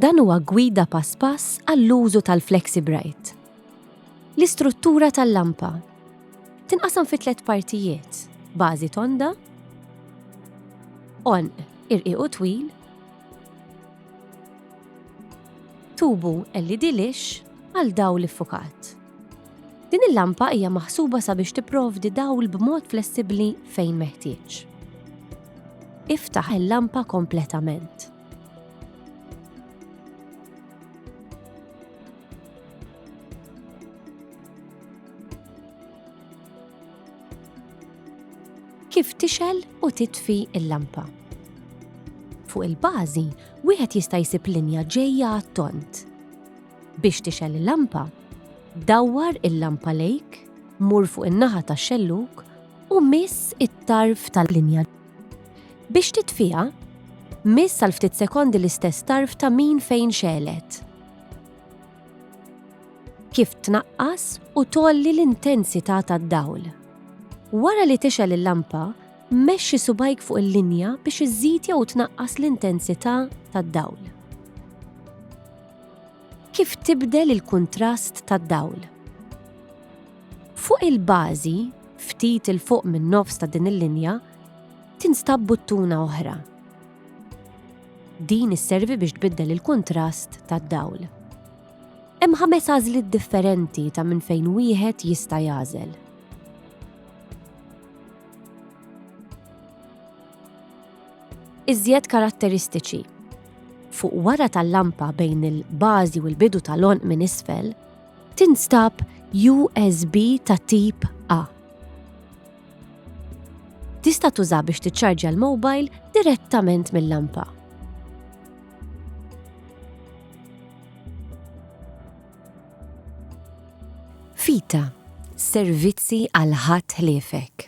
Dan huwa gwida pass pass għall-użu tal-FlexiBright. L-istruttura tal-lampa tinqasam fi tliet partijiet, bażi tonda, għonq irqiq u twil, tubu LED lixx għal dawl iffukat. Din il-lampa hija maħsuba sabiex tipprovdi dawl b'mod flessibbli fejn meħtieġ. Iftaħ il-lampa kompletament. kif tixel u titfi il-lampa. Fuq il-bażi, wieħed jista' jsib linja ġejja għat-tont. Biex tixel il-lampa, dawwar il-lampa lejk, mur fuq in-naħa tax-xelluk u miss it-tarf tal-linja. Biex titfiha, miss għal ftit sekondi l-istess tarf ta' min fejn xelet. Kif tnaqqas u tolli l-intensità tad-dawl. Wara li tixel il-lampa, mexxi subajk fuq il-linja biex iżżid jew tnaqqas l-intensità tad-dawl. Kif tibdel il-kuntrast tad-dawl. Fuq il-bażi, ftit 'il fuq min-nofs ta' din il-linja, tinstab buttuna oħra. Din isservi biex tbiddel il-kuntrast tad-dawl. Hemm ħames għażliet differenti ta' minn fejn wieħed jista' jagħżel. Iżjed karatteristiċi. Fuq wara tal-lampa bejn il-bażi u l-bidu tal-onq minn isfel, tinstab USB ta' tip A. Tista' tuża biex tiċċarġja l-mobile direttament mill-lampa. Fita, servizzi għal ħadd ħliefek.